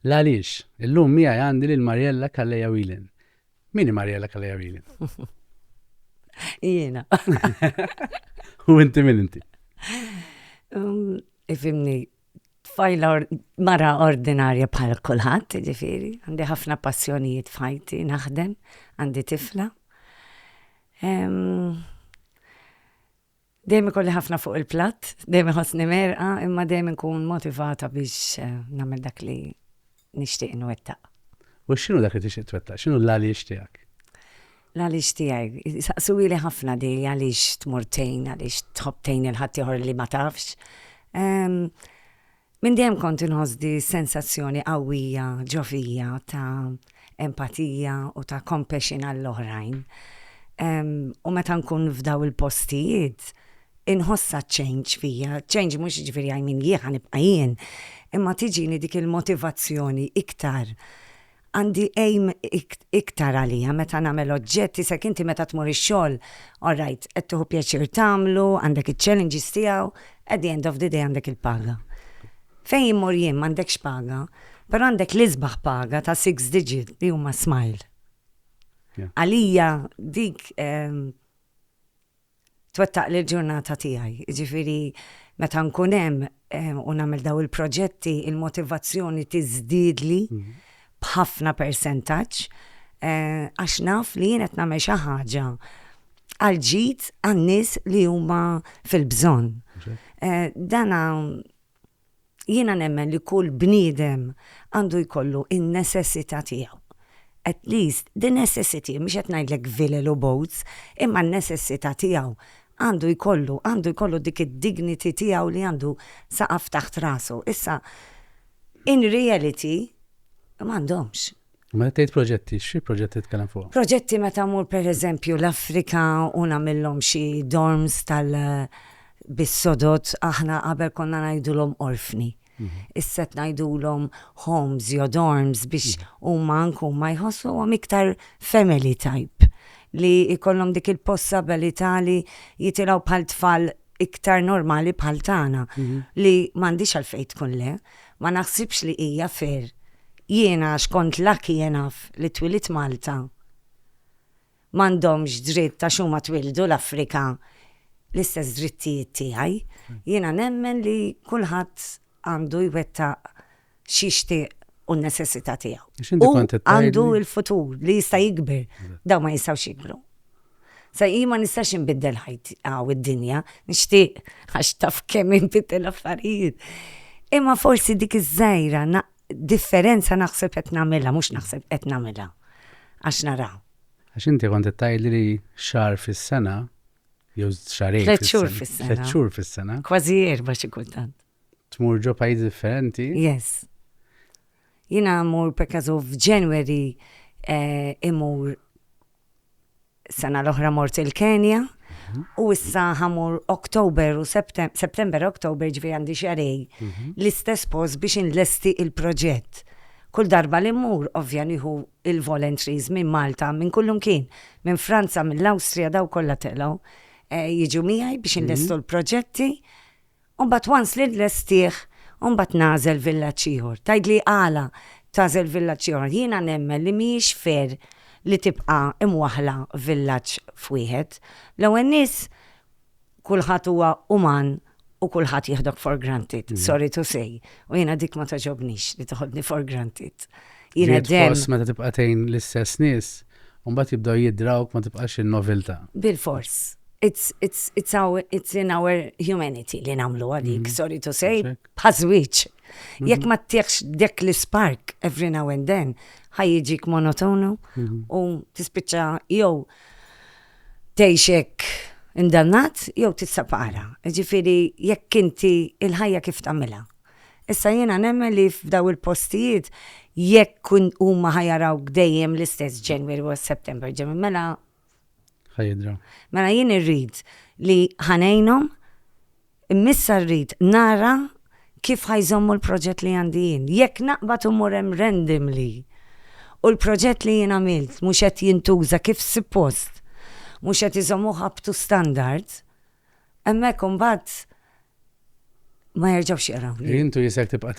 L-għaliex, illum mija għandi lil Mariella Kalleja Wilin. Mini Mariella Kalleja Wilin? Jiena. U inti min inti? Um, ifimni, tfajla mara ordinarja bħal kulħadd, ġifieri, għandi ħafna passjonijiet f'ħajti, naħdem, għandi tifla. Dejjem ikolli ħafna fuq il-platt, dejjem iħossni merqa, imma dejjem inkun motivata biex eh, nagħmel dak li nixtieq inwettaq. U x'inhu dak li tixtieq twettaq? X'inhu l-għaliex tiegħek? L-għaliex tiegħi. Saqsuhieli ħafna di għaliex tmur tgħin, għaliex tħobb tgħin lil ħaddieħor li ma tafx. Minn dejjem kont inħoss di s-sensazzjoni qawwija ġo fija ta' empatija u ta' compassion għall-oħrajn. U meta nkun f'daw il-postijiet, inħossha ċ-change fija, ċ-change mhux jiġifieri I mean jien ħa nibqa' jien, imma tiġini dik il-motivazzjoni iktar, għandi aim iktar għalija meta nagħmel oġġett, isek inti meta tmur ix-xogħol, all right, qed tieħu pjaċir tagħmlu, għandek iċ-challenges tiegħu, at the end of the day għandek il-paga. Fejn immur jien m'għandekx paga, però għandek l-isbaħ paga ta' six digit li huma smile. Għalija dik ehm, twettaqli l-ġurnata tiegħi. Jiġifieri meta nkun hemm u nagħmel dawn il-proġetti, il-motivazzjoni tiżdiedli b'ħafna persentaġġ għax naf li jien qed nagħmel xi ħaġa għall-ġid għan-nies li huma fil-bżonn. Dana Jiena nemmen li kull bniedem għandu jkollu n-necessità tiegħu. At least the necessity, mhux qed ngħidlek vilel u boots, imma n-necessità tiegħu għandu jkollu, għandu jkollu dik id-dignity tiegħu li għandu saqaf taħt rasu. Issa, in reality, m'għandhomx. Meta tgħid proġetti, xi proġetti titkellem fuqhom? Proġetti meta mmur pereżempju l-Afrika u nagħmillhom xi dorms tal bis-sodod aħna qabel konna ngħidulhom orfni. Issa qed ngħidulhom homes jew dorms biex huma anke huma jħossuhom iktar family type li jkollhom dik il-possibilità li jitilgħu bħal tfal iktar normali bħal tagħna li m'għandhiex għalfejn tkun le. Ma naħsibx li hija fair. Jiena għax kont lucky enough li twilidt Malta. M'għandhomx dritt għax huma twildu l-Afrika l-istess drittijiet tiegħi. Jiena nemmen li kulħadd għandu jwettaq x'jixtieq u n-neċessità tiegħu. Hu għandu l-futur li jista' jikber. Dawn ma jistgħux jikbru. Sa jien ma nistax inbiddel ħajti aw id-dinja, nixtieq għax taf kemm inbiddel affarijiet. Imma forsi dik iż-żgħira differenza naħseb qed nagħmilha, mhux naħseb qed nagħmilha għax nara. Għax inti kont qed tgħidli li xahar fis-sena jew xahrejn. Tliet xhur fis-sena. Tliet xhur fis-sena. Kważi erba' xi kultant. Tmur ġo pajjiżi differenti? Yes. Jiena mmur per kazu f'January eh, imur sena l-oħra mort il-Kenja mhm. u issa ħamur Oktober u September, Oktober ġvi għandi xarej mhm. l-istess post biex inlesti il-proġett. Kull darba li mmur ovvja nieħu il-voluntaries minn Malta, minn kullum kien, minn Franza, mill-Awstrija daw kollha telgħu eh, jiġu miegħi biex mhm. inlestu l-proġetti U mbagħad once li nlestih, u mbagħad nagħżel villaġġ ieħor. Tgħidli għala tagħżel villaġġ ieħor. Jiena nemmen li mhijiex fair li tibqa' imwaħħla villaġġ f'wieħed. L-ewwel nies kulħadd huwa uman u kulħadd jieħdok for granted, sorry to say. U jiena dik ma togħġobnix li toħodni for granted. Jiena dem. Meta tibqa' tgħin l-istess nies, u mbagħad jibdew jidrawk ma tibqax in-noviltà. Bilfors. It's, it's, it's our, it's in our humanity li nagħmlu għalik, sorry to say, bħaż-żwieġ. Jekk ma ttieħx dek l-ispark every now and then, ħajjiġik monotonu u tispiċċa jew tgħixek indannat jew tissapara. Ġifieri jekk inti il-ħajja kif tagħmilha. Issa jiena nemmen li f'daw il-postijiet jekk huma ħa jarawk dejjem l-istess January u September ġemmi mela ħa jidra. Mela jien irrid li ħa ngħinhom immissa rrid nara kif ħajżommu l-proġett li għandi jien. Jekk naqbad u mur hemm randomly u l-proġett li jien għamilt mhux qed jintuża kif suppost, mhux qed iżommuh up to standard, Hemmhekk imbagħad ma jerġgħux jaqrawni. Intu jisek tibqa'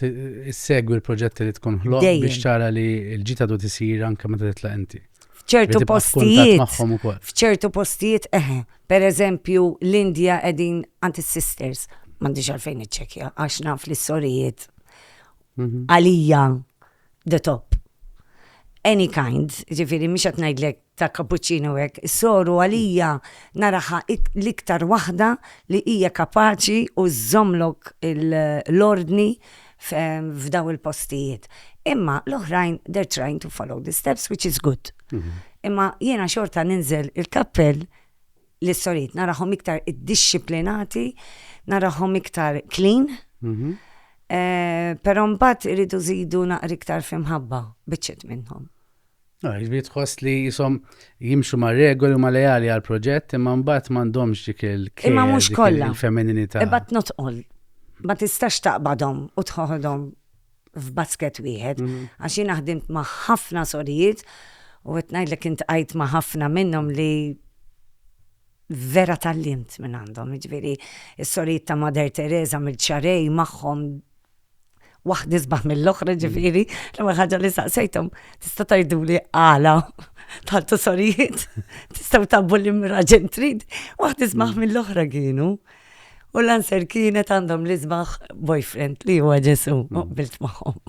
issegwi l-proġetti li tkun ħloq biex tara li l-ġita du tisir anke meta titlaq inti. F'ċertu postijiet. F'ċertu postijiet eħe. Per eżempju, l-Indja qegħdin għand is-sisters. M'għandix għalfejn iċċekja għax naf li s-sorijiet mhm. għalija the top. Any kind, jiġifieri mhux qed ngħidlek ta' cappuccino hekk, is-soru għalija naraha l-iktar waħda li hija kapaċi u żżommlok l-ordni f'dawn il-postijiet. Imma l-oħrajn they are trying to follow the steps which is good. Imma jiena xorta ninżel il-kappell. lis-sorijiet, narahom iktar iddixxiplinati, narahom iktar clean. Mhm. Eh, Però mbagħad iridu żidu naqri iktar fl-imħabba biċċiet minnhom. No, jiġifieri tħoss li jisom jimxu ma' regoli u ma' leali għal proġett imma mbagħad m'għandhomx dik il Imma mhux kollha. il-femininità. Iba tnotqol. Ma tistax taqbadhom u tħoħodhom f'basket wieħed. Għax jiena ħdimt ma' ħafna sorijiet u qed ngħidlek intqajt ma' ħafna minnhom li vera tgħallimt minn għandhom. Jiġifieri s-sorijiet ta' Mother Teresa mill-Ċarej magħhom waħda isbaħ mill-oħra ġifieri, l-ewwel ħaġa li saqsejthom tista' tgħiduli għala tantu sorijiet, tistgħu tabbu l-imraġen trid, waħda isbaħ mill-oħra kienu. U l-answer kienet għandhom l-isbaħ boyfriend li huwa Ġesu, u qbilt magħhom.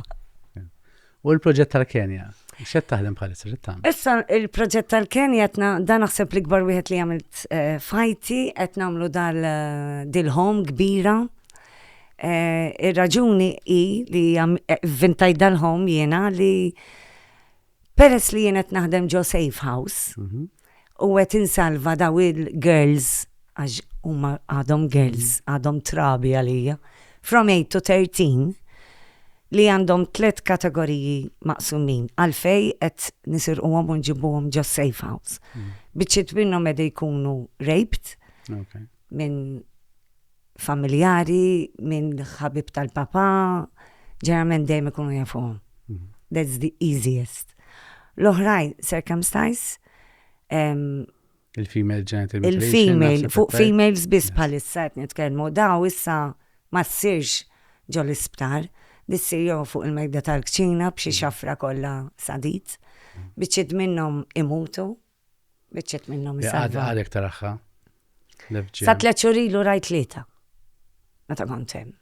U l-proġett tal-Kenja? Xed taħdem bħalissa xed taħdem? Issa il-proġett tal-Kenja qed dan naħseb li kbar wieħed li għamilt eh, fajti qed nagħmlu dal eh, dil-home kbira. Eh, ir-raġuni hi li vintajt dal-home jiena li Peress li jien qed naħdem ġo safe house u qed insalva daw il-girls għax huma għadhom girls, għadhom trabi għalija, from 8 to 13 li għandhom tliet kategoriji maqsumin għalfej qed nisirquhom u nġibuhom ġo safe house. Biċċiet minnhom qed jkunu raped minn familjari, minn ħabib tal-papà, ġeneralment dejjem ikunu jafuhom. Mhm. That's the easiest. L-oħrajn, circumstance, il-female genital Il-female, fuq females biss bħalissa qed nitkellmu, daw issa ma ssirx ġo l-isptar, dissir jew fuq il-mejda tal-kċina b'xi mhm. xafra kollha sadit, mhm. biċċiet minnhom imutu Biċċet minnhom isalva. Għadek taraħħa. Sa tliet xhur ilu rajt tlieta. Meta kont hemm.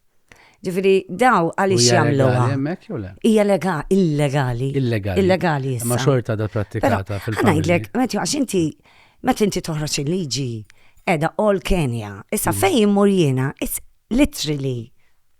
Ġifieri daw għaliex jagħmluha. Hemmhekk jew le? Hija illegali. Illegali. Illegali. Ma xorta da prattikata fil-familja. Ngħidlek, meta għax inti meta inti toħroġ il-liġi edha all Kenya. Issa mm. fejn immur jiena, it's literally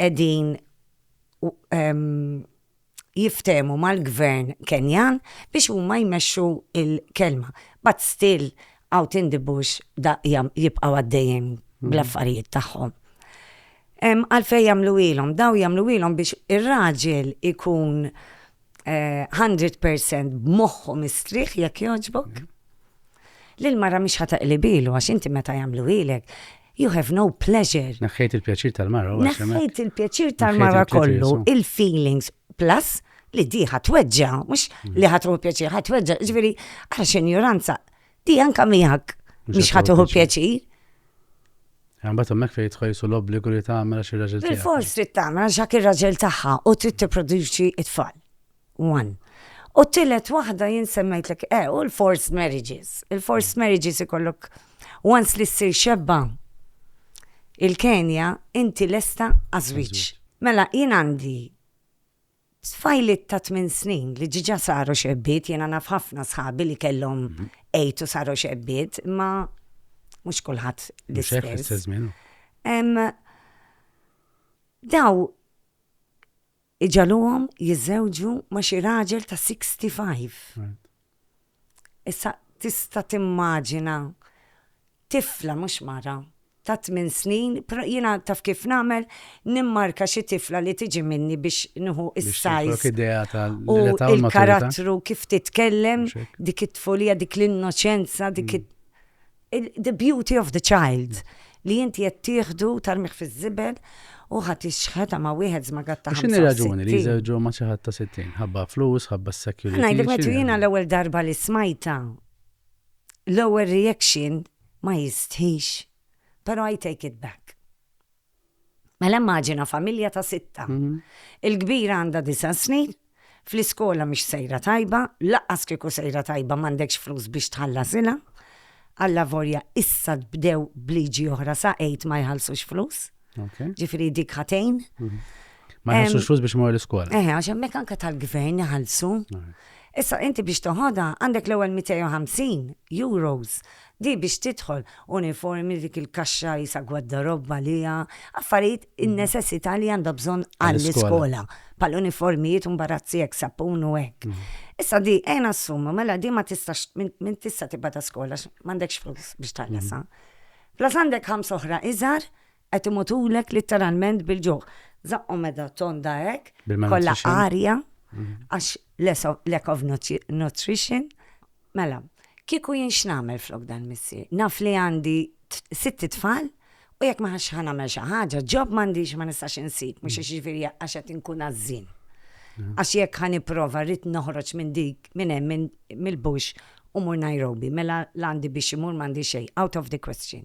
qegħdin jiftehmu mal-gvern Kenjan biex huma jmexxu l-kelma. But still out in the bush da jibqgħu għaddejjin bl-affarijiet tagħhom. Għalfejn jagħmlu ilhom, daw jagħmlu ilhom biex ir-raġel ikun 100 percent b'moħħu mistrieħ jekk jogħġbok. Lil mara mhix ħa taqlibilu għax inti meta jagħmlu ilek you have no pleasure. Naħħejt il-pjaċir tal-mara. Naħħejt il-pjaċir tal-mara kollu, il-feelings, plus li di ħatweġġa, mux mm. li ħatru pjaċir, ħatweġġa, ġveri, għax ignoranza, Di anka miegħek mhix ħadd iħu pjaċir. Għambat hemmhekk fejn tħajsu l-obbligu li tagħmel għax ir-raġel tagħha. Bil-fors trid tagħmel għax dak ir-raġel tagħha u trid tipproduċi t-tfal. One. U t-tielet waħda jien semmejtlek eh u l-forced marriages. Il-forced marriages ikollok once li ssir xebba il-Kenja inti lesta għażwiġ. Mela jien għandi Tfajliet ta' tmien snin li diġà saru xebbiet, jiena naf ħafna sħabi li kellhom għid u saru xebbiet, imma mhux kulħadd l-istess. Daw iġaluhom jiżżewġu ma' xi raġel ta' 65. Issa tista' timmaġina tifla, mhux mara, ta' tmien snin, però jiena taf kif nagħmel, nimmarka xi tifla li tiġi minni biex nieħu s-size u l-karattru kif titkellem, dik it-tfulija, dik l-innoċenza, dik The beauty of the child, li inti qed tieħdu tarmih fiż-żibel u ħa tixħetha ma' wieħed żmagat ta' 65. X'inhi raġuni li jżewġu ma' xi ħadd ta' 60? Ħabba flus, ħabba s-security. Ngħidlek meta jiena l-ewwel darba li smajtha, l-ewwel reaction ma jistħix. Però I take it back. Mela immaġina familja ta' sitta. Il-kbira għandha disa' snin, fl-iskola mhix sejra tajba, lanqas kieku sejra tajba m'għandekx flus biex tħallasilha. Allavolja issa bdew b'liġi oħra sa għid ma jħallsux flus. Ġifieri dik ħa tgħin. Ma jħallsux flus biex imorru l-iskola. Eħe, għax hemmhekk anke tal-gvern iħallsu. Issa inti biex toħodha għandek l-ewwel 250 euros Di biex tidħol, uniformi dik il-kaxxa qisha gwaddarobb għaliha, affarijiet in-nesessità li għandha bżonn għall-iskola, bħall-uniformijiet u mbarazzi hekk, sapun u hekk. Issa di ejja nassumu, mela di ma tistax, m'int tista' tibgħatha skola għax m'għandekx flus biex tħallasha. Plus għandek ħamsa oħra iżgħar Qed imutulek litteralment bil-ġuħ. Żaqqhom meta tonda hekk, kollha arja, għax lack of nutrition. Mela, kieku jien x'nagħmel flok dan missier? Naf li għandi sitt itfal u jekk ma ħax ħa nagħmel xi ħaġa, ġob m'għandix ma nistax insib, mhux għax jiġifieri għax qed inkun għażżien. Għax jekk ħa nipprova rrid noħroġ minn dik minn hemm mill-bush u mmur Nairobi, mela l-għandi biex imur m'għandi xejn, out of the question.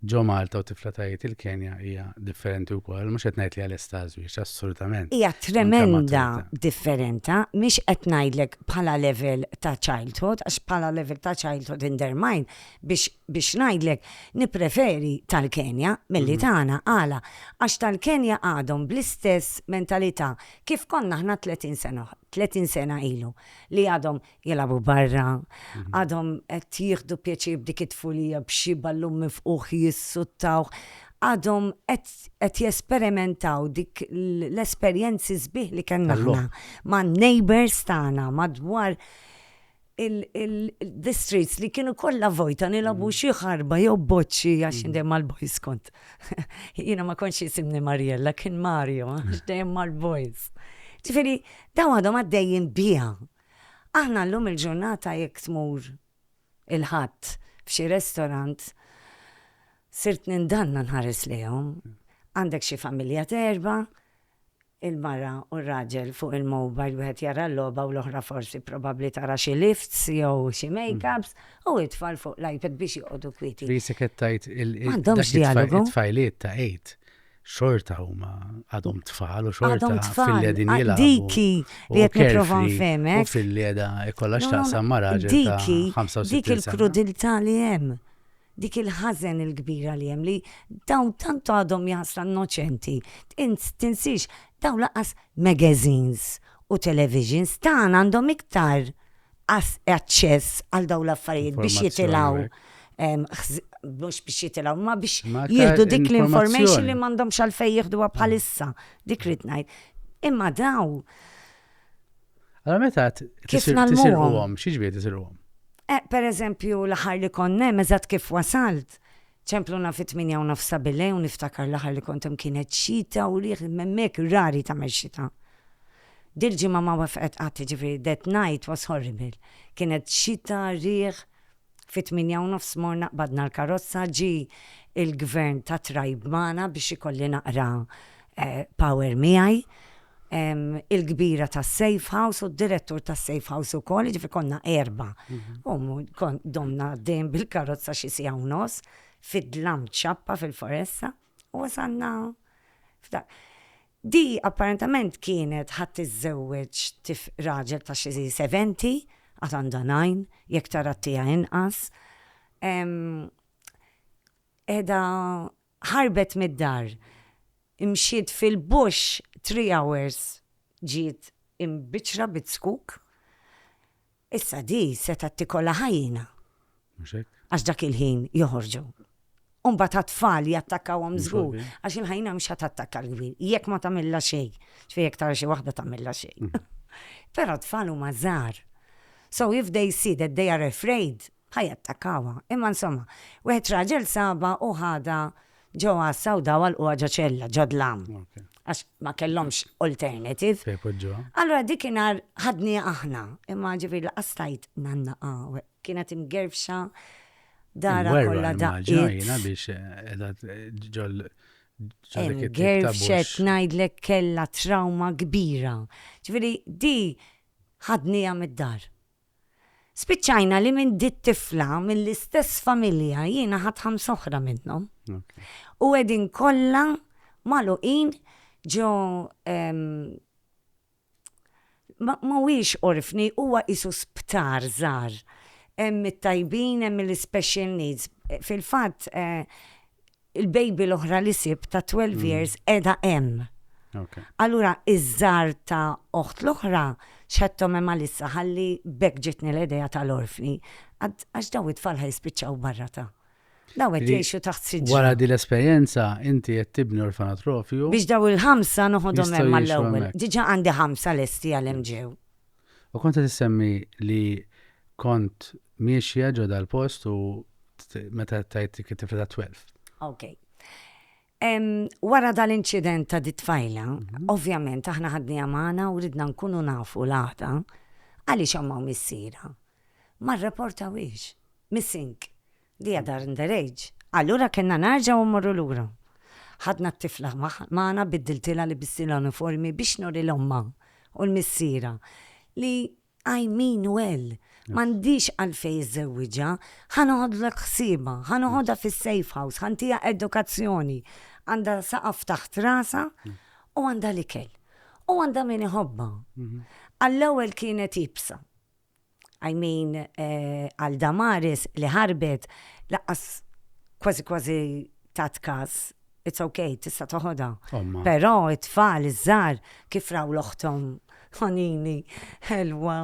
ġo Malta u tifla ta' Għid il-Kenja hija differenti wkoll, mhux qed ngħid li hija lesta għaż-żwieġ, assolutament. Hija tremenda differenta, mhix qed ngħidlek bħala level ta' childhood, għax bħala level ta' childhood in their mind, biex biex ngħidlek nippreferi tal-Kenja milli tagħna, għala? Għax tal-Kenja għadhom bl-istess mentalità kif konna aħna 30 sena 30 sena ilu, li għadhom jilagħbu barra, għadhom qed jieħdu pjaċir b'dik it-tfulija b'xi ballun mifqugħ jissuttawh, għadhom qed qed jesperimentaw dik l-esperjenzi sbieħ li kellna aħna man-neighbours tagħna madwar il-streets li kienu kollha vojta nilagħbu xi ħarba jew boċċi għax jien dejjem mal-boys kont. Jiena ma kontx jisimni Marjella, kien Mario għax dejjem mal-boys. Ġifieri dawn għadhom għaddejjin biha. Aħna llum il-ġurnata jekk tmur il-Ħadd f'xi restorant, sirt nindanna nħares lejhom. Għandek xi familja t'erbgħa, il-mara u r-raġel fuq il-mobile wieħed jara l-logħba u l-oħra forsi probabbli tara xi lifts jew xi makeups u t-tfal fuq l-iPad biex joqogħdu kwieti. Li s-sekk qed tgħid il-tfajliet ta' Eid. xorta huma għadhom tfal u xorta fil-li din ah, jilgħabu. Diki li qed nipprova nfehmek. U fil-li qiegħda jkollha x'taqsam ma' raġel Diki, dik il-krudilità li hemm. Dik il-ħażen il-kbira li hemm li dawn tantu għadhom jasra innoċenti. Tinsix dawn laqas magazines u televisions tagħna għandhom iktar aċċess għal daw l-affarijiet biex jitilgħu mhux biex jitilgħu ma biex jieħdu dik l-information li m'għandhomx għalfejn jieħduha bħalissa. Dik rid ngħid. Imma daw. Allora meta kif nagħlmuhom? Xi ġbiet isirhom? Eh, per eżempju, l-ħar li konnem, eżat kif wasalt, Ċempluna fit-tmienja u nofs ta' billejl u niftakar l-aħħar li kont hemm kienet xita u riħ imma hemmhekk rari tagħmel xita. Dil-ġimgħa ma wefqet qatt jiġifieri that night was horrible. Kienet xita, riħ, fit-tmienja u nofs morna qbadna l-karozza, ġie il-Gvern tat-trajb magħna biex ikolli naqra power miegħi. il-kbira tas-Safe House u d-direttur tas-Safe House ukoll, jiġifieri konna erba'. U domna għaddejjin bil-karozza xi siegħa u nofs fid-dlam ċappa fil-foresta u wasalna f'dak. Di apparentament kienet ħa tiżżewweġ raġel ta' xi seventy, għad għandha nine, jekk tara t-tiegħi inqas. Qiegħda Ħarbet mid-dar, mxiet fil-bush three hours ġiet imbiċċra bizzkuk, issa di setgħet tikollha ħajjina. Mhux hekk? Għax dak il-ħin joħorġu. U mbagħad għat-tfal jattakkawhom żgur, għax il-ħajjina mhux ħadd attakka l-kbir, jekk ma tagħmilha xejn, x'fejn jekk tara xi waħda tagħmilha xejn. Però tfal huma żgħar. So if they see that they are afraid, Ħa jattakkawha. Imma insomma, wieħed raġel sabha u ħadha ġo għassa u daw għalquha ġo ċella, ġo dlam. Għax ma kellhomx alternative. Fejn poġġuha. Allura dikinhar ħadni aħna, imma ġifieri laqas stajt ngħannaqha. Kienet imgerfxa dara kollha daqqiet. biex qiegħda eh, ġol Gerfxet ngħidlek kellha trauma kbira. Ġifieri di ħadnija mid-dar. Spiċċajna li minn di t-tifla mill-istess familja jiena ħadt ħamsa oħra minnhom. U qegħdin kollha magħluqin ġo mhuwiex orfni, huwa qisu sptar żgħar. Hemm it-tajbin, hemm l-special needs. Fil-fatt, il-baby l-oħra li sibt ta' 12 mm. years edha hemm. Okay. Allura iż-żar ta' oħt l-oħra xħettom hemm għalissa ħalli bekk ġitni l-idea tal-orfni għax daw it-tfal ħajspiċċaw barra ta' Daw qed jgħixu taħt siġġu. Wara din l-esperjenza inti qed tibni orfanatrofju. Biex daw il-ħamsa noħodhom hemm mal-ewwel. Diġà għandi ħamsa lesti għal hemm ġew. U kont qed issemmi li kont miexja ġo dal-post u meta tajt dik it-tifla ta' 12. Ok. Wara dal-inċident ta' dit-tfajla, ovvjament aħna ħadniha magħna u ridna nkunu nafu l-għada għaliex ommha u missierha ma rreportawhiex missing Li għadha under age. Allura kellna nerġgħu mmorru lura. Ħadna t-tifla magħna biddiltilha libistilha uniformi biex nuri 'l ommha u 'l missierha li I mean well. M'għandix għalfejn iżżewwiġha. Ħa noħodlek ħsiebha, ħa noħodha fis-safe house, ħa ntiha edukazzjoni. Għandha saqaf taħt rasha u għandha l-ikel. U għandha min iħobbha. Għall-ewwel kienet iebsa. I mean għal Damaris li ħarbet laqqas kważi kważi tat każ. It's okay, tista' toħodha. Però it-tfal iż-żar kif raw l-oħthom ħonini ħelwa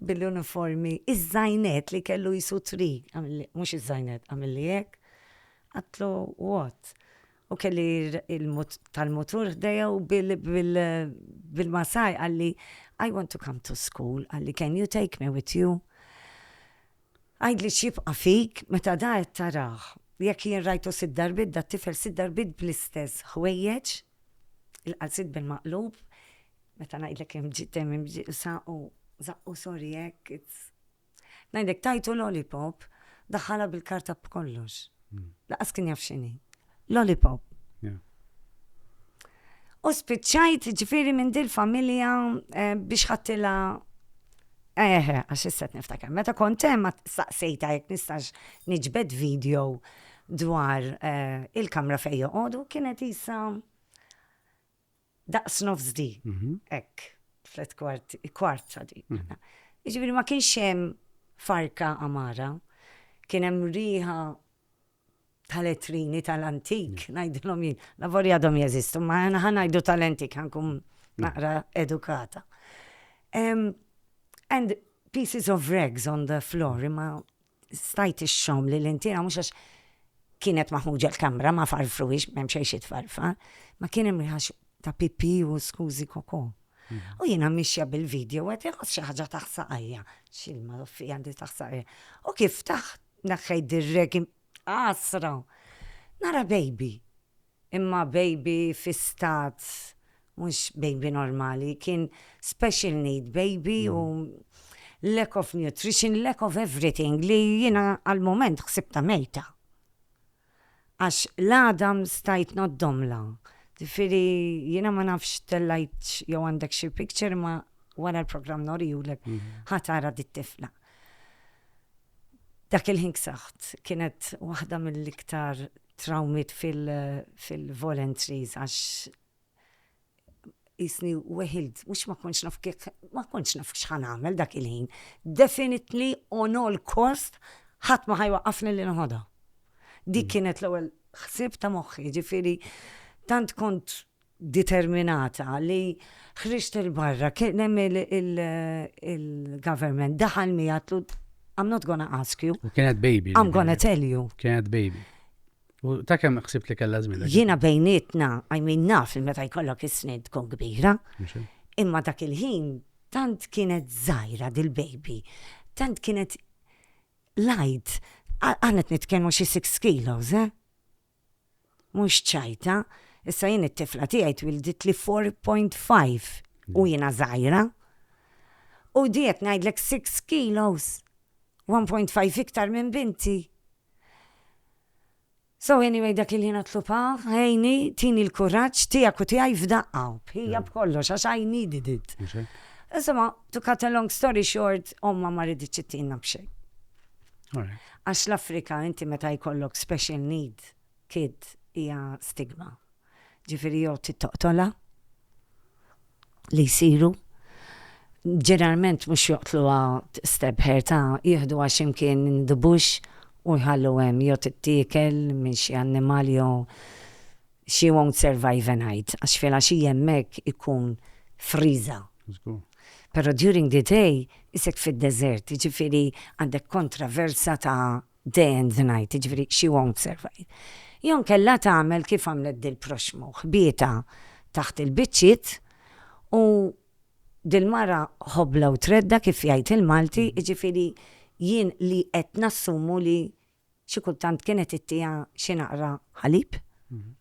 bil-uniformi, iż-żajnet li kellu jisu tri, mhux iż-żajnet, għamilli hekk, għatlu what? u kelli tal-mutur ħdejja u bil-masaj għalli I want to come to school, għalli can you take me with you? Għajdli xibqa fik meta da qed taraħ. Jekk jien rajtu sid darbit da tifel sid darbit bl-istess ħwejjeġ, il-qalsit bil-maqlub, meta ngħidlek hemm ġiet hemm sa u zaqqu sorry hekk, Ngħidlek tajtu lollipop, daħħalha bil-karta b'kollox. Laqas kien jaf x'inhi. Lollipop. U spiċċajt ġifiri minn dil familja eh, biex ħattila Eħe, eh, għax isset niftakar. Meta kont hemm saqsejta jekk nistax niġbed video dwar eh, il-kamra fejn joqogħdu kienet isa daqs nofs di, hekk, tliet kwart, kwart ta' di. Jiġifieri ma kienx hemm farka amara, kien hemm riħa tal-etrini tal-antik, ngħidilhom jien, lavori għadhom jeżistu, ma ħa ngħidu tal-antik ħankun naqra edukata. And pieces of rags on the floor, imma Stajt ixxomm li l-intiera mhux għax kienet maħmuġa l-kamra ma farfruhiex m'hemm xejn xi tfarfar, ma kien hemm riħax ta' pipì u skużi koko. Mhm. U jiena mixja bil-video għet iħoss xi ħaġa taħsaqajja. Xilma l-offi għandi taħsaqajja. U kif taħt naħħej dirrek asra. Nara baby. Imma baby fi stat mhux baby normali, kien special need baby u lack of nutrition, lack of everything li jiena għall-mument ħsibtha mejta. Għax l-għadam stajt ngħoddhomlha. Ġifieri jiena ma nafx tellgħitx jew għandek xi picture imma wara l-programm norihulek ħa tara dit-tifla. Dak il-ħin ksaħt, kienet waħda mill-iktar trawmiet fil-voluntaries għax jisni weħilt, mux ma konċ naf kif, ma konċ naf xħan għamel dak il-ħin. Definitely on all cost, ħat ma ħajwa għafni li nħoda. Dik mm. kienet l-ewel xsib ta' moħħi, ġifiri, tant kont determinata li ħriġt 'il barra, kien hemm il-government daħal miegħi għatlu I'm not gonna ask you. U kienet baby. I'm gonna tell you. Kienet baby. U ta' kemm ħsibt li kellha żmien? Jiena bejnietna, I mean naf li meta jkollok is-snin tkun kbira. Imma dak il-ħin tant kienet żgħira dil-baby. Tant kienet light. Għanet nitkellmu xi 6 kilos, eh? Mhux ċajta. Issa jien it-tifla tiegħi twilditli four point five u jiena żgħira. U di qed ngħidlek six kilos. One point five iktar minn binti. So anyway dak il-ħin għatlubha, għinni, tini l-kuraġġ tiegħek u tiegħi f'daqqa, bħija b'kollox għax I needed it. Insomma, to cut a long story short, omma ma riditx ittina b'xejn. Għax l-Afrika inti meta jkollok special need kid hija stigma. Ġifieri jew tittoqtola li jsiru ġeneralment mhux joqtluha stebħer ta' jieħdu għax imkien dubux u jħallu hemm jew tittiekel minn xi annimal jew She won't survive a night, għax filgħaxija hemmhekk ikun friża. Żgur. Però during the day isek fid-deżert, jiġifieri għandek kontraversa ta' day and the night, jiġifieri she won't survive. Jew inkella tagħmel kif għamlet dil-proxxmu, ħbietha taħt il-biċċiet u dil-mara ħobla u tredda kif jgħid il-Malti, jiġifieri jien li qed nassumu li xi kultant kienet ittiha xi naqra ħalib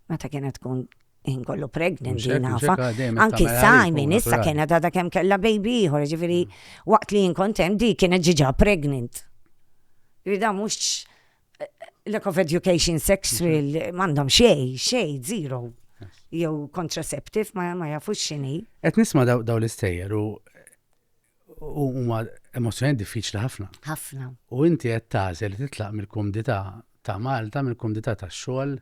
meta kienet tkun ħin kollu pregnant li nafa. Anki Simon issa kienet għadha kemm kellha baby ieħor, ġifieri mm. waqt li jinkontem di kienet ġiġa pregnant. Rida mhux eh, lack of education sexual m'għandhom xej, xej, zero. Jew contraceptive ma, ma jafux xini. Qed nisma' daw, daw l-istejjer u huma emozzjoni diffiċli ħafna. Ħafna. U inti qed tażel li titlaq mill-kumdità ta' Malta, mill-kumdità tax-xogħol,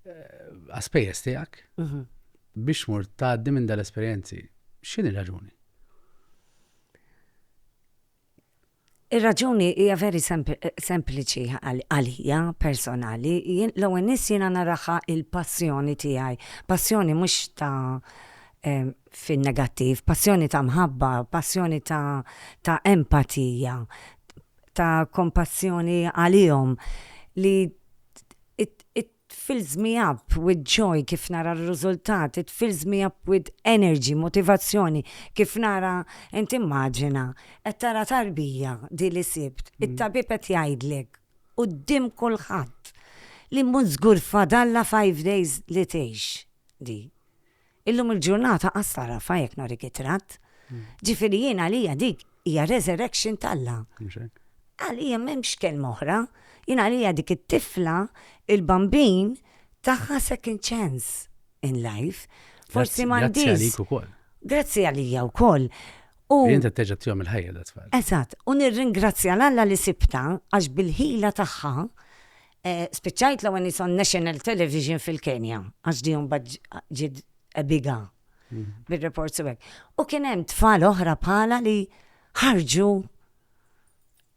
eh, għaspejjeż tiegħek mhm. biex mur tgħaddi minn dal-esperjenzi. X'inhi raġuni? Ir-raġuni hija very sempliċi għalija personali, jien l-ewwel nies jiena naraha l-passjoni tiegħi, passjoni mhux ta' fin-negattiv, passjoni ta' mħabba, passjoni ta' ta' empatija, ta' kompassjoni għalihom li It fills me up with joy kif nara r-riżultat, it fills me up with energy, motivazzjoni, kif nara, int immaġina, qed tara tarbija di li sibt, it-tabib qed jgħidlek quddiem kulħadd li mhu żgur fadallha five days li tgħix di. Illum il-ġurnata qas tagħrafha jekk norik it-tratt. Ġifieri jien għalija dik hija resurrection t'Alla. Għalija m'hemmx kelma oħra. Jien għalija dik it-tifla, il-bambin, taha second chance in life. Forsi m'għandhiex. Grazzi għalik ukoll. Grazzi għalija wkoll. U inti terġa' tihom il-ħajja dat tfal. Eżatt, u nirringrazzja l-Alla li sibta għax bil-ħila tagħha Spiċċajt l-ewwel nies on national television fil-Kenja, għax di mbagħad ġiet ebiga bir-reports u hekk. U kien hemm tfal oħra bħala li ħarġu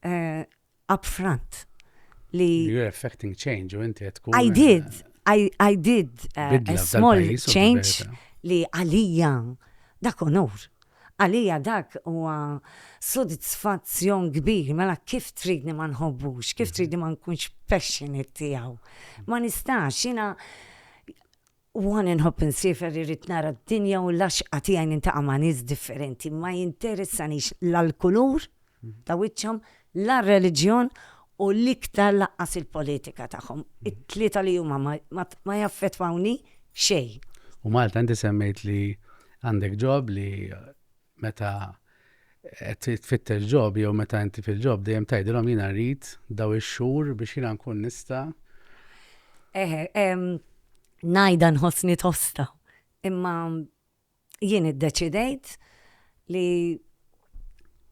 eh, up front li You're affecting change u inti qed tkun. I did, I, I did uh, Bidla a f'dan small pajjiż u change fil-verità. li għalija dak onur. Għalija dak huwa sodisfazzjon kbir, mela kif tridni ma nħobbux, kif tridni ma nkunx passionate tiegħu? Ma nistax, jiena one inħobb insiefer irrid nara d-dinja u l-għaxqa tiegħi nintaqa' ma' nies differenti, ma jinteressanix la l-kulur ta' wiċċhom la r-reliġjon u l-iktar lanqas il-politika tagħhom. It-tlieta li huma ma jaffettwawni xejn. U Malta, inti semmejt li għandek ġob li meta qed tfittex ġob jew meta inti fil-ġob dejjem tgħidilhom jiena rrid daw ix-xhur biex jiena nkun nista'. Eħe, ngħidha nħossni tosta, imma jien iddeċidejt li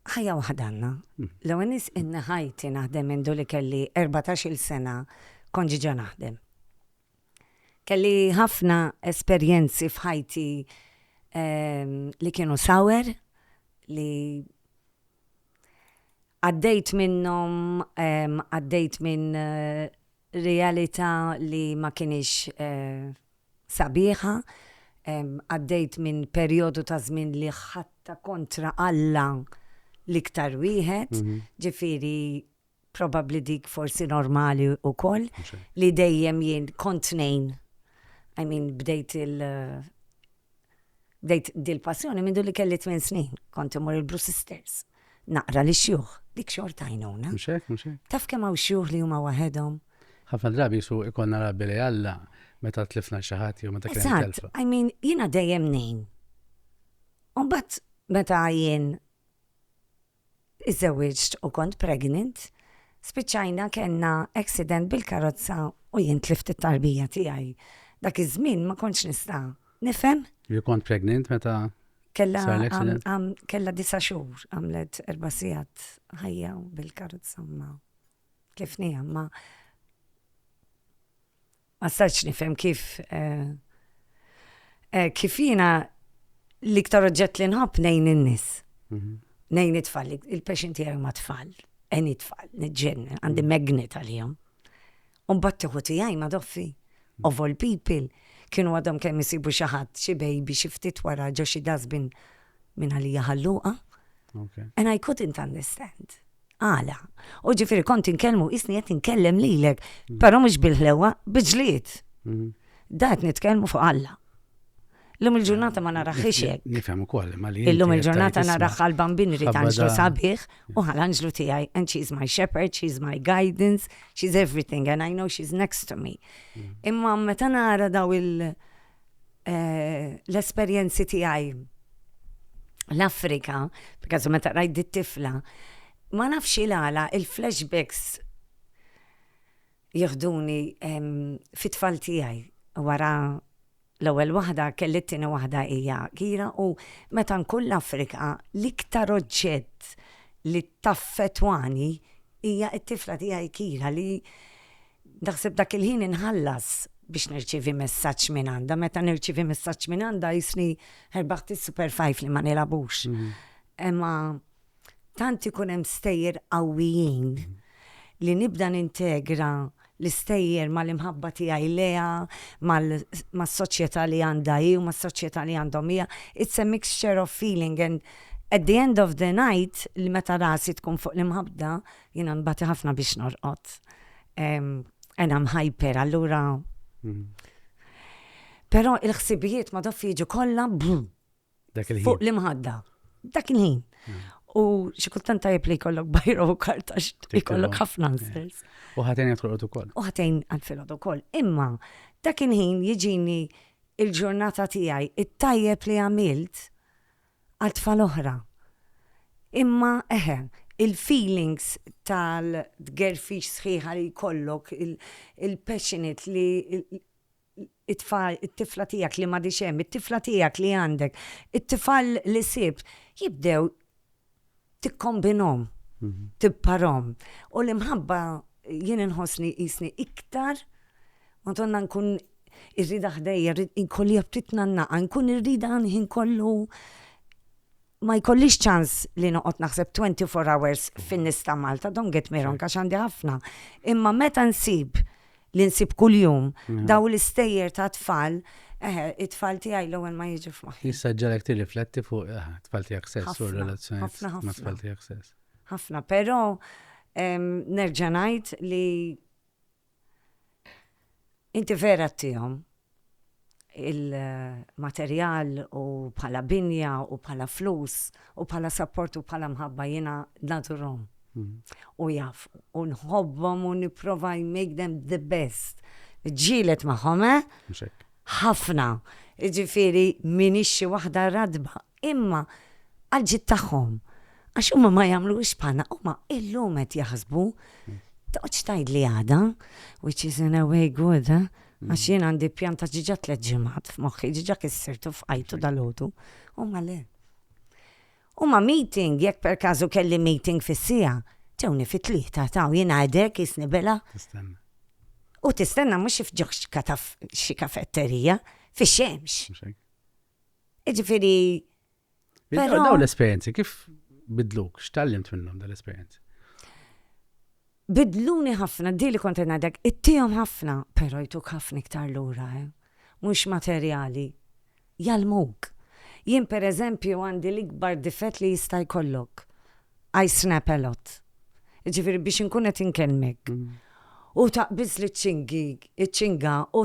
ħajja waħda għandna. L-ewwel nies inni ħajti naħdem minn li kelli 14-il sena kont ġiġa naħdem. Kelli ħafna esperjenzi f'ħajti ehm, li kienu sawer li għaddejt minnhom ehm, għaddejt minn eh, Realita' li ma kinitx sabiħa. Għaddejt minn perjodu ta' żmien li ħadtha kontra Alla l-iktar wieħed, ġifieri probabbli dik forsi normali wkoll li dejjem jien kont tnejn. I mean bdejt Bdejt dil passjoni mindu li kelli tmien snin, kont immur il Blue Sisters, naqra li xjuħ, dik xorta għajnuna. Mhux hekk, mhux hekk. Taf kemm hawn xjuħ li huma waħedhom? Ħafna drabi jisu ikonna rabbi li Alla meta tlifna xi ħadd jew meta kien hemm telfa. Eżatt, I mean, jiena dejjem ngħin. U mbagħad meta jien Iżżewwiġt u kont pregnant. Spiċċajna kellna accident bil-karozza u jien tlift it-tarbija tiegħi. Dak iż-żmien ma kontx nista' nifhem. Li kont pregnant meta sar l-accident? Kellha disa' xhur, għamlet erba' sigħat ħajja u bil-karozza ma tlifniha. Ma stajtx nifhem kif kif jiena l-iktar oġġett li nħobb nejn in-nies. Mhm. Nejn it-tfal, il-passion tiegħi ma' tfal, eni tfal, nġen, għandi mhm. magnet għalihom. Un battiħu tiegħi ma' doffi, mhm. of all people, kienu għadhom kemm isibu xi ħadd, xi baby, xi ftit wara ġo xi dasbin minn għalija ħalluqa. And I couldn't understand. Għala? U ġifieri kont inkellmu qisni qed inkellem lilek, però mhux bil-ħlewwa, bi ġlied. Da qed nitkellmu fuq Alla. Illum il-ġurnata ma naraħħiex hekk. Nifhem ukoll, ma li. Illum il-ġurnata naraħ għal bambin irid anġlu sabiħ u għal anġlu tiegħi and she is my shepherd, she is my guidance, she is everything and I know she is next to me. Imma meta nara daw il- l-esperjenzi tiegħi l-Afrika, b'każu meta rajt dit tifla, ma nafx il-għala il-flashbacks jihduni fit-tfal tiegħi wara l-ewwel waħda kelli t-tieni waħda hija kira u meta nkun l-Afrika l-iktar oġġett li taffetwani hija t-tifla tiegħi kira li Naħseb dak il-ħin inħallas biex nirċievi messaġġ minn għandha. Meta nirċievi messaġġ minn għandha jisni ħerbaħt is-Super Five li ma nilagħbux. Imma tant ikun hemm stejjer qawwijin li nibda nintegra l-istejjer mal-imħabba tiegħi lejha, mas-soċjetà li għandha hi u mas-soċjetà li għandhom hija. It's a mixture of feeling and at the end of the night li meta rasi tkun fuq l-imħabba Jiena nbati ħafna biex norqod. Ena mħajper, allura. Mm. Pero il-ħsibijiet ma doffi jiġu kollha Dak il-ħin. Fuq l-imħadda. Dak il-ħin. Hmm. U xi kultant tajjeb li jkollok bajra u karta jkollok ħafna nsels. U ħatejn qed tolqod ukoll. U ħatejn qed filgħod ukoll. Imma dak il-ħin jiġini il-ġurnata tiegħi it-tajjeb li għamilt għal tfal oħra. Imma eħe, il-feelings tal-tgerfix sħiħa li jkollok, il-passionate li it-tfal, it-tifla tiegħek li m'għadhiex hemm, it-tifla tiegħek li għandek, it-tifal li sibt, jibdew tikkombinhom, tipparhom. U l-imħabba jien inħossni jisni iktar, madonna nkun irrida ħdejja, inkolli ftit nannaqa, nkun irrida ħin kollu ma jkollix ċans li noqgħod naħseb 24 hours fin-nies ta' Malta, don't get me wrong, għax għandi ħafna. Imma meta nsib li nsib kuljum, dawn l-istejjer ta' tfal, eħe, it-tfal tiegħi l-ewwel ma jiġu f'moħħi. Issa ġalek tirrifletti fuq it-tfal tiegħek stess u r-relazzjonijiet ma' tfal tiegħek stess. Ħafna, però nerġa' ngħid li inti vera tihom, il-materjal u bħala binja u bħala flus u bħala sapport u bħala mħabba jiena nadurhom. Mm. U jaf, u nħobbhom u nipprova I make them the best. Ġielet magħhom, eh? Ħafna. Ġifieri minix xi waħda radba Imma għall-ġid tagħhom, għax huma ma jagħmlux bħalna, huma illum qed jaħsbu, toqgħodx tgħidli għada, which is in a way good, eh? Għax jien għandi pjan ta' ġiġa tliet ġimgħat f'moħħi, ġiġa kissirtu f'ħajtu dal-ħodu. Huma le. Huma meeting, jekk per każu kelli meeting fis-sija, ġewni fit-tlieta taw jien għadek isni bela. U tistenna mhux f'ġoħx kataf xi kafetterija, fix-xemx. Ġifiri. Pero... Daw l-esperienzi, kif bidluk? X'tallimt minnhom dal-esperienzi? Bidluni ħafna, di li konti ngħidek, ittihom ħafna, pero jtuk ħafna iktar lura, eh? mhux materjali. Jalmuk. Jien per eżempju għandi l-ikbar difett li jista' jkollok. I snap a lot. Ġifiri biex inkun qed inkellmek. Mm. U taqbiż li ċingi, ċinga, u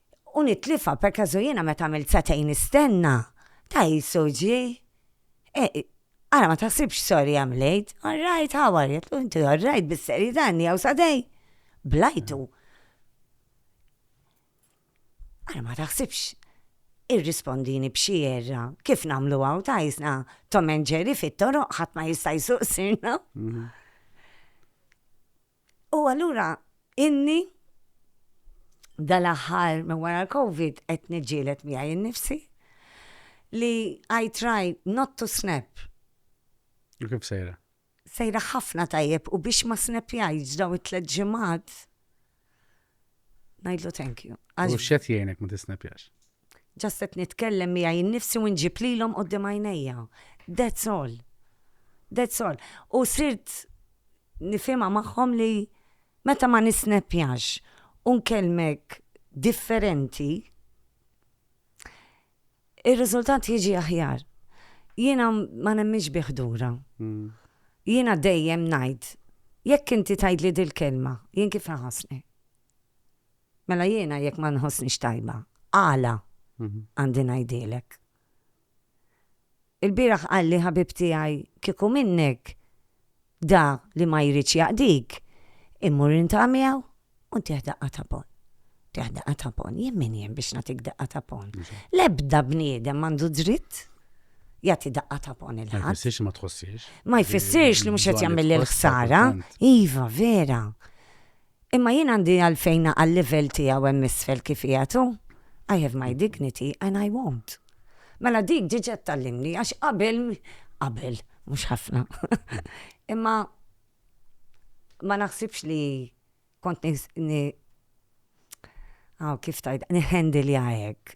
U nitlifha, perkażu jiena meta għamilt sagħtejn nistenna, ta' qisu ġie. E, ara ma taħsibx sorry I'm late, all right how are you? Għedtlu inti all right bis-serjetà għandi hawn sagħtejn. Blajtu. Ara ma taħsibx irrispondini b'xi erra kif nagħmlu hawn ta' jisna Tom and Jerry fit-toroq ħadd ma jista' jsuq sirna. Mhm. U allura inni dal-aħħar minn wara l-Covid qed niġġieled miegħi nnifsi li I try not to snap. U kif sejra? Sejra ħafna tajjeb u biex ma snepjajtx daw it-tliet ġimgħat Najdlu thank you. U xet jgħinek ma tisnapjax? Ġast qed nitkellem miegħi jinnifsi u nġib lilhom qudiem għajnejja. That's all. That's all. U sirt nifhimha magħhom li meta ma nisnapjax u nkellmek differenti, ir-riżultat jiġi aħjar. Jiena ma nemminx bi ħdura. Jiena dejjem ngħid, jekk inti tgħidli dil-kelma, jien kif inħossni? Mela jiena jekk ma nħossnix tajba, għala għandi ngħidhielek? Il-bieraħ qalli ħabib tiegħi kieku minnek da li ma jridx jaqdik, immur intaqa' miegħu u ntih daqqa ta' ponn. Ntih daqqa ta' ponn. Jien min jien biex nagħtik daqqa ta' ponn? L-ebda bniedem m'għandu dritt jagħti daqqa ta' ponn lil ħadd. Ma jfissirx li ma tħossiex. Ma jfissirx li mhux qed jagħmilli l-ħsara. Iva, vera. Imma jien għandi għalfejn naqa' l-livell tiegħu hemm isfel kif qiegħed hu? I have my dignity and I won't. Mela dik diġà tgħallimni għax qabel, qabel, mhux ħafna, imma ma naħsibx li kont ni, aw kif tgħidha, niħħendilha hekk.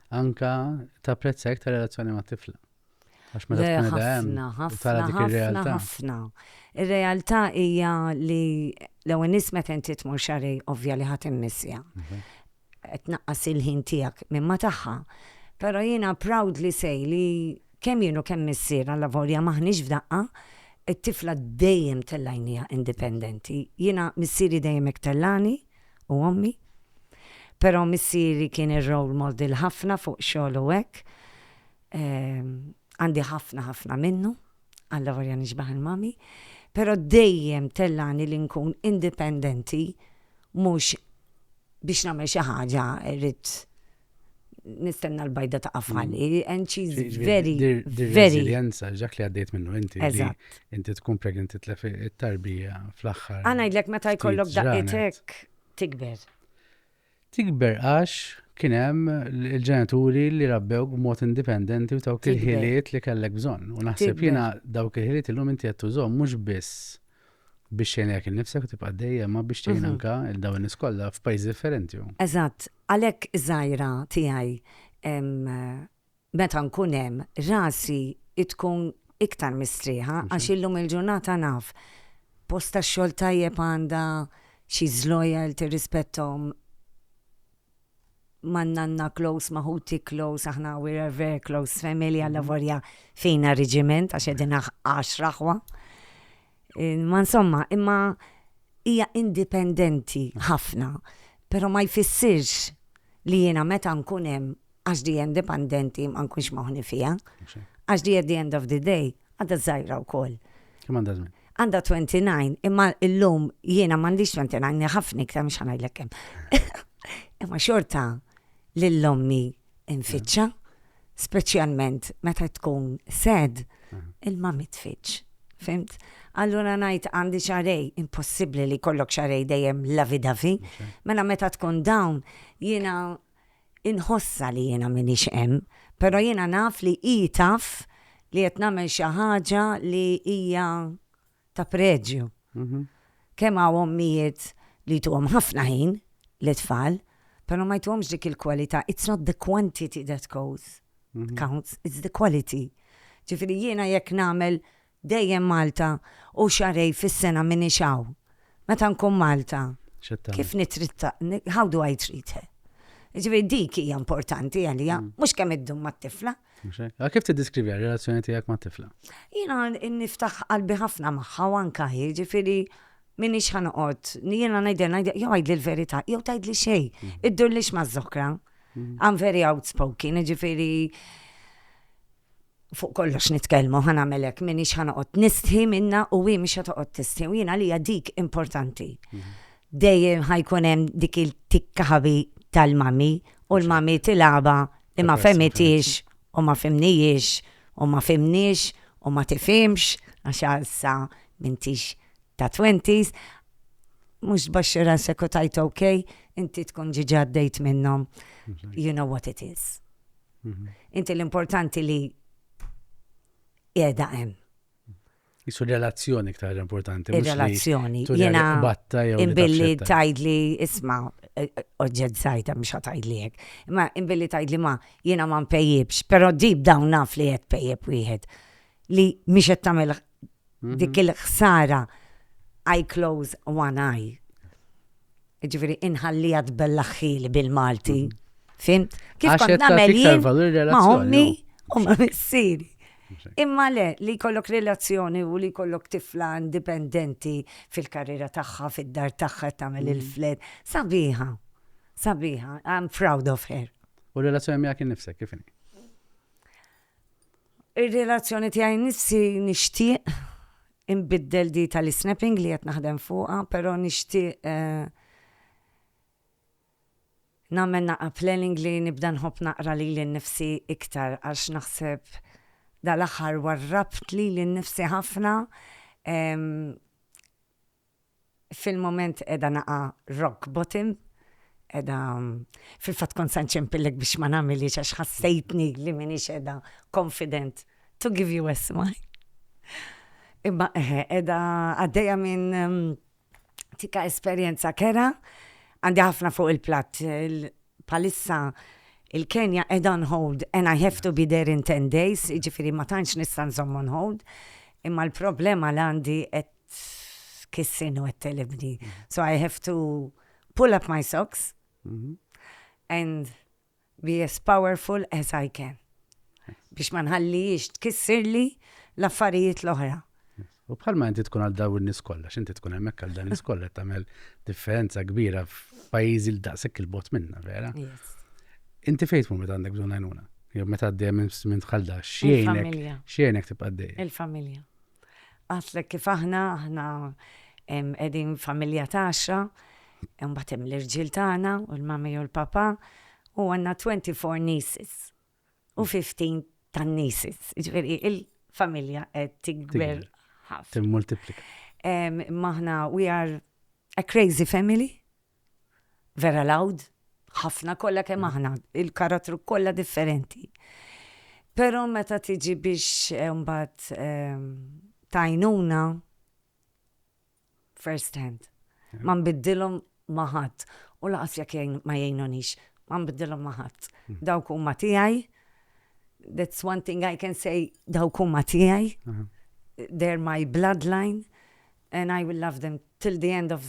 anka tapprezza iktar relazzjoni ma' tifla. Għax meta tkun edha hemm, tara dik ir-realtà. Ħafna, Ir-realtà hija li l-ewwel nies meta inti tmur xarej ovvja li ħadd immissja. Mhm. Qed naqqas il-ħin tiegħek minn ma tagħha. Però jiena proud li sej li kemm jienu kemm missier għal lavorja maħniex f'daqqa, it-tifla dejjem tellajnija indipendenti. Jiena missieri dejjem iktellani, u ommi. Però missieri kien ir-role model ħafna fuq xogħol u hekk. Għandi ħafna ħafna minnu, allavolja nixbah il-mommy. Però dejjem tellagħni li nkun indipendenti mhux biex nagħmel xi ħaġa rrid nistenna l-bajda ta' għafali, mm. and she's very, very. Resilienza, ġak li għaddejt minnu inti. Inti tkun pregnant titlef it-tarbija fl-axħar. Għana id-lek meta jkollok daqqitek tikber. Tikber għax kienem il-ġenituri li rabbew b'mod indipendenti u dawk il-ħiliet li kellek bżon. U naħseb jena dawk il-ħiliet il-lum inti għattu zom, mux biss biex tgħinlek innifsek u tibqa' dejjem ma biex tgħin anke il dawn in-nies kollha f'pajjiżi differenti. Eżatt, għalhekk żgħira tiegħi meta nkun hemm rasi tkun iktar mistrieħa għax illum il-ġurnata naf post tax-xogħol tajjeb għandha, she's loyal, tirrispetthom man nanna close, ma ħuti close, aħna we're a very close family, għalla mhm. vorja fina reġiment, għax edin għax raħwa. Ma insomma, imma hija indipendenti ħafna, pero ma jfissirx li jena meta nkun hemm għax di indipendenti ma nkunx moħni fiha. Għax di at the end of the day għadha żgħira wkoll. Kemm għandha żmien? Għandha 29, imma illum jiena m'għandix 29 ħafna iktar mhux ħanajlek kemm. Imma xorta lil ommi nfittxa, speċjalment meta tkun sed, il-ma mitfittx. Fimt? Allura ngħid għandi xarej, impossibbli li kollok xarej dejjem lavidavi, mela meta tkun dawn jiena Inħossha li jiena m'iniex hemm, però jiena naf li hi taf li qed nagħmel xi ħaġa li hija ta' preġju. Kemm hawn ommijiet li jtuhom ħafna ħin lit-tfal, però ma jtuhomx dik il-kwalità. It's not the quantity that counts, it's the quality. Ġifieri jiena jekk nagħmel Dejjem Malta u xahrej fis-sena m'iniex hawn. Meta nkun Malta, kif nittritta, how do I treat her? Jiġifieri dik hija importanti għalija, mhux kemm iddum mat-tifla. Mhux hekk? Allura kif tiddeskriviha r-relazzjoni tiegħek mat-tifla? Jiena niftaħ qalbi ħafna magħha u anke hi, jiġifieri m'iniex ħa noqgħod, jiena ngħidilha, ngħidilha, jew għidli l-verità, jew tgħidli xejn, iddurlix maż-żokra. I'm very outspoken, jiġifieri fuq kollox nitkellmu, ħa nagħmel hekk, m'iniex ħa noqgħod nistħi minnha u hi mhix ħa toqgħod tistħi u jien għalija dik importanti. Dejjem ħajkun hemm dik il-tikkaħabi tal-mami u l-mami tilaba li ma femitiex u ma fimnijiex u ma fimniex u ma tifimx għax għalsa mintix ta' 20s mux baxxi rasek u tajt ok, inti tkun ġiġa għaddejt minnom. You know what it is. Mhm. Inti l-importanti li qiegħda hemm. Isu relazzjoni iktar importanti. Relazzjoni. Jena batta jew. Imbilli tajdli isma eh, eh, oġġed sajta mhux tajdli hekk. Imma imbilli tajdli ma jiena ma npejjibx, però dib dawn naf li qed pejjeb wieħed li mhix qed tagħmel dik il-ħsara I close one eye. Ġifieri inħallija tbellaħħili bil-Malti. Fimt? Kif kont nagħmel jien ma' ommi u ma' missieri. Imma le, li kollok relazzjoni u li kollok tifla indipendenti fil-karriera tagħha, fid-dar tagħha tagħmel mm. il-fled. Sabiħa, sabiħa, I'm proud of her. U relazzjoni miegħek innifsek kif inhi? Ir-relazzjoni tiegħi nnifsi nixtieq inbiddel di tal-isnapping li qed naħdem fuqha però nixtieq nagħmel naqra planning li nibda nħobb naqra lili nnifsi iktar għax naħseb dal-aħħar warrabt lili nnifsi ħafna Fil-mument qiegħda naqa' rock bottom, qiegħda, fil-fatt kont se nċempillek biex ma nagħmilhiex għax ħassejtni li m'iniex qiegħda confident to give you a smile. Imma eħe, qiegħda għaddejja minn tika esperjenza kerha, għandi ħafna fuq il-platt. Bħalissa il-Kenja qiegħda on hold and I have to be there in ten days, jiġifieri ma tantx nista' nżomm on hold, imma l-problema li għandi qed kissin u għattelibni. So I have to pull up my socks mhm. and be as powerful as I can. Biex ma nħallijiex tkissirli l-affarijiet l-oħra. U bħalma inti tkun għal daw n-nis kollha, x'inti tkun hemmhekk għal dan nis kollha tagħmel differenza kbira f'pajjiżi l daqshekk il-bot minna, vera? Inti fejn tmur meta għandek bżonn għajnuna? Jew meta għaddejja minn tħalda, x'jgħinek x'jgħinek tibqa' Il-familja. Għatlek kif aħna, aħna qegħdin familja ta' għaxra, imbagħad hemm l-irġiel tagħna u l-mami u l-papa, u għandna 24 nieces u 15 tan-nieces. Ġifieri il-familja qed tikber ħafna. Timmultiplika. Maħna we are a crazy family. vera loud, ħafna kollha kemm aħna, il-karattru kollha differenti. Però meta tiġi biex eh, mbagħad ehm, tajnuna first hand. Ma nbiddilhom ma' ħadd u laqas jekk jgħin- ma jgħinunix, ma nbiddilhom ma' ħadd. Dawk huma tiegħi. That's one thing I can say, dawk huma tiegħi. Aha. They're my bloodline and I will love them till the end of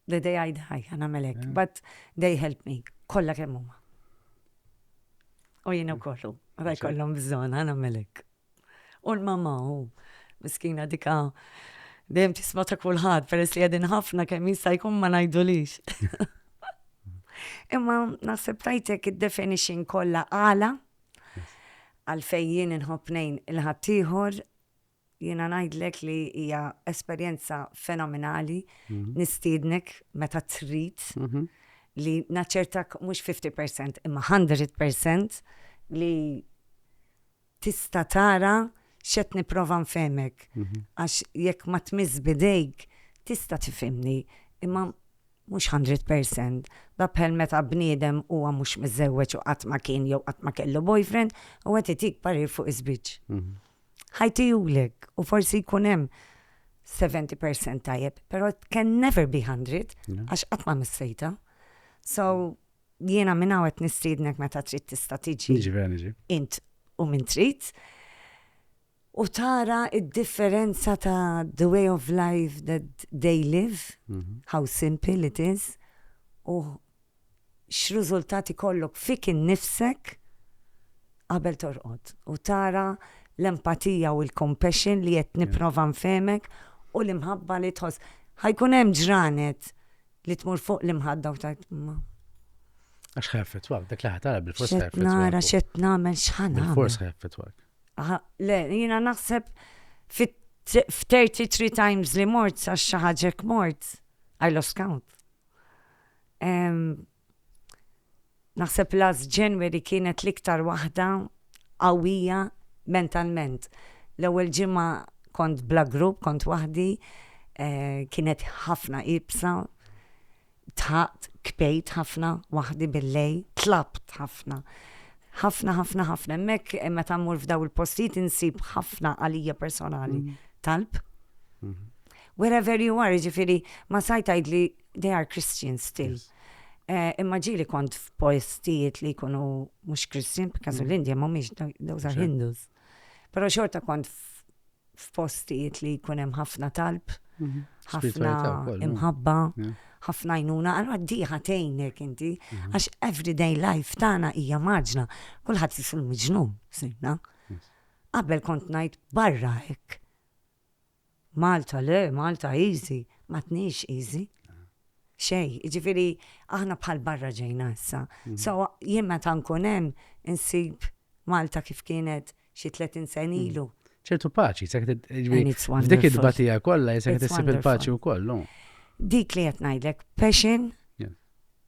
They they hide high, għana melek, eh. but they help me, kolla kemm huma. U jina u kollu, għada jkollhom bżon, għana melek. U l-mama u miskina dika dejjem tisma ta' kulħadd peress li għedin ħafna kemm jista' jkun ma ngħidulix. Imma naħseb tajtek id-definition kollha għala għalfejn jien inħobb il-ħaddieħor Jiena ngħidlek li hija esperjenza fenomenali, nistiednek meta trid li naċċertak mhux fifty percent imma hundred percent li tista' tara x'qed nipprova nfehmek għax jekk ma tmiss b'idejk tista' tifhimni imma mhux hundred percent. Dha bħal meta bniedem huwa mhux miżżewweġ u qatt ma kien jew qatt ma kellu boyfriend u qed itik parir fuq iż-żwieġ. Ħajtihulek u forsi jkun hemm 70% tajjeb, però it can never be 100 għax qatt ma missejtha. So jiena minn hawn qed nistiednek meta trid tista' tiġi. Niġi vera niġi. Int u min trid. U tara id-differenza ta' the way of life that they live, how simple it is, u x'riżultat ikollok fik innifsek qabel torqod u tara l-empatija u l-compassion li qed nipprova nfehmek u l-imħabba li tħoss. Ħa jkun hemm ġranet li tmur fuq l-imħadda u tgħid imma. Għax ħa jaffettwak, dak li ħa tara bil-fors ħa jaffettwak. Nara x'qed nagħmel x'ħa nagħmel. Bil-fors ħa jaffettwak. Le, jiena naħseb fit 33 times li mort sa xaħġek mort, I lost count. Naħseb last January kienet l-iktar waħda qawwija mentalment. L-ewwel ġimgħa kont bla grupp, kont waħdi, eh, kienet ħafna ibsa, tħaqt, kpejt ħafna, waħdi bil-lej, tlabt ħafna. ħafna, ħafna, ħafna. Mek, eh, meta mmur f'daw il-postijiet insib ħafna għalija personali. Mm. Talb. Mm-hmm. Wherever you are, ġifiri, ma saj tajdli they are Christian still. Eh, imma ġili kont f'postijiet li jkunu mhux Christian, b'każu mm. l-Indja mhumiex those are Hindus. Però xorta kont f'postijiet li jkun hemm ħafna talb, mhm. ħafna imħabba, ħafna jnuna, għalwa diħa tejnek inti, mhm. għax everyday life tagħna hija maġna, kulħadd jisul miġnum, sinna. Qabel kont ngħid barra hekk. Malta le, Malta easy, m'għadniex easy. Xejn, jiġifieri aħna bħal barra ġejna issa. So jien meta nkun hemm insib Malta kif kienet xi 30 sena ilu. ċertu paċi, se qed jiġri f'dik it-tbatija kollha se qed issib il-paċi wkoll. Dik li qed ngħidlek, passion,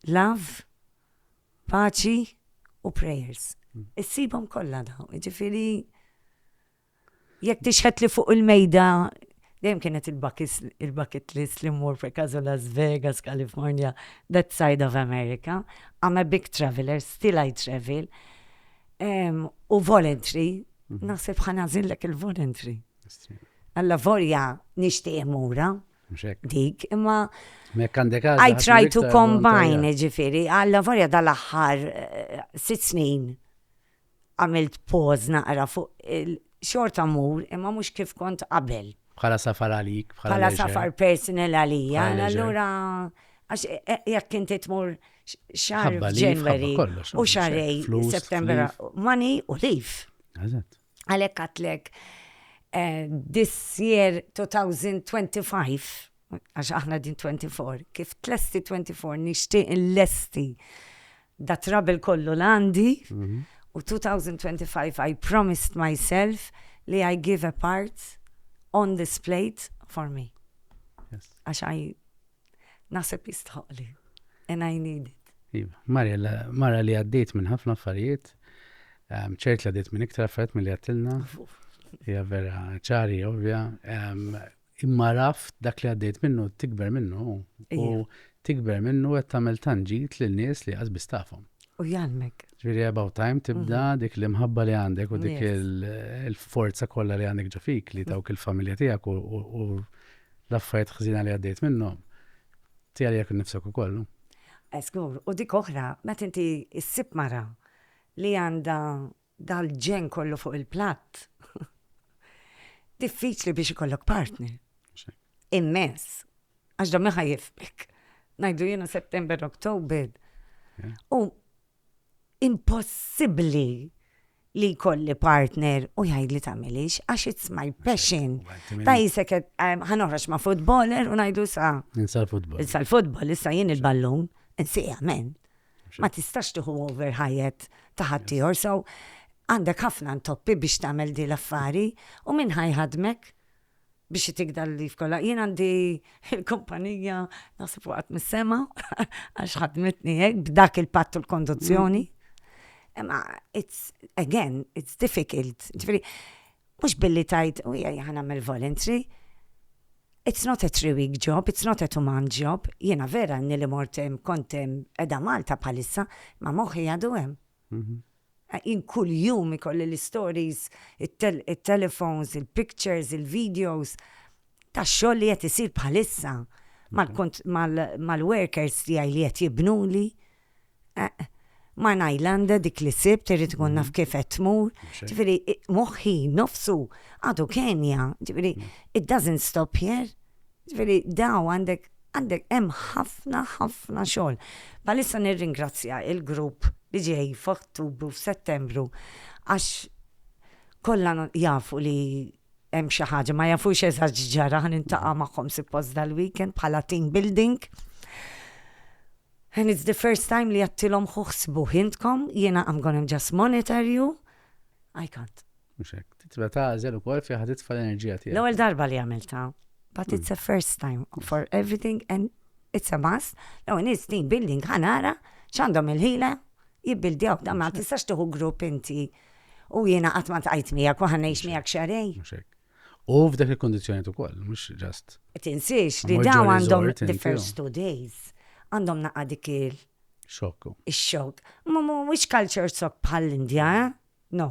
love, paċi u prayers. Issibhom kollha dawn, jiġifieri. Jekk tixhed li fuq il-mejda dejjem kienet il-bucket list li mmur per caso Las Vegas, California, that side of America. I'm a big traveller, still I travel. U voluntary, naħseb ħa nagħżillek il-voluntary. Allavolja nixtieq immurha dik, imma I try to combine, ġifieri, allavolja dal-aħħar sitt snin Għamilt pause naqra fuq il xorta mmur imma mhux kif kont qabel. Bħala safar għalik, bħala leisure. Bħala safar personal għalija, allura għax jekk inti tmur xahar January u xahrej September money u leave. Eżatt. Għalhekk għatlek eh, this year 2025 għax aħna din 24 kif tlesti 24 nixtieq l-lesti Da trouble kollu l-għandi u 2025 I promised myself li I give a part on this plate for me. Għax I naħseb jistħoqli and I need it. Iva, Mariella, mara li għaddit minn ħafna affarijiet, ehm, ċert li għaddit minn iktar affarijiet mill-li għattilna, hija vera ċari, ovvja, ehm, Imma raft dak li għaddejt minnu tikber minnu u tikber minnu qed tagħmel tanġit lil nies li qas bistafhom. U jgħalmek. Ġifieri about time tibda mhm. dik l-imħabba li għandek u dik il-forza kollha li għandek ġafik li mhm. dawk il-familja tiegħek u l-affarijiet ħżina li għaddejt minnhom. Tiegħi jekk nifsek ukoll. Eskur, u dik oħra, meta inti issib mara li għandha Dal-ġenn kollu fuq il-platt. Diffiċli biex ikollok partner. Immens. Għax dommi ħajifmek. Najdu jena September, October. U impossibli li kolli partner u jgħid li tamilix, għax it's my passion. Ta' jisek ħanoħrax ma' futboler u najdu sa. Insa l-futbol. Insa l-futbol, issa jien il-ballun, insi għamen. Ma tistax tieħu over ħajjet ta' ħaddieħor, so għandek ħafna ntoppi biex tagħmel din l-affari u min ħa jħaddmek biex itik dan l-leave kollha. Jien għandi l-kumpanija naħseb waqgħet mis-sema għax ħadmitni hekk b'dak il-patt u l-konduzzjoni. Imma it's again, it's difficult. Ġifieri Mhux billi tgħid, u ejja ħa nagħmel voluntary. It's not a three week job, it's not a two month job. Jiena vera ilni li mort hemm, kont hemm, qiegħda Malta bħalissa, imma moħħi għadu hemm. Jien kuljum ikolli l-istories, it-telefons, il-pictures, il-videos. tax-xogħol li qed isir bħalissa mal-workers tiegħi li qed jibnuli. Eqq. Ma' Nylande dik li sibt irrid inkun naf kif qed tmur. Ġifieri moħħi nnofsu għadu kenja. Ġifieri it doesn't stop here. Ġifieri daw għandek għandek hemm ħafna ħafna xogħol. Bħalissa nirringrazzja il-grupp li ġej f'Ottubru f'Settembru għax kollha jafu li hemm xi ħaġa, ma jafux eżatt ġara, ħan intaqa' magħhom suppost dal-weekend bħala team building. And it's the first time li jattilom xuħsbu hintkom, jena I'm gonna just monitor you. I can't. Muxek, titba tażel u kol fi ħad titfa l-enerġija tiegħek. L-ewwel darba li għamilta, but hmm. it's a first time for everything and it's a must. Law in is team building ħanara, x'għandhom il-ħila, jibbildjaw, da ma tistax tuħu grupp inti U jiena qatt ma ltqajt miegħek u ħa ngħix miegħek xahrejn. Mhux hekk. U f'dak il-kundizzjonijiet ukoll, mhux ġast. Tinsiex li dawn għandhom the first two days għandhom naqa' dik il. Xokk. Ix-xokk. Ma mhuwiex culture shock bħall-Indja, eh? No.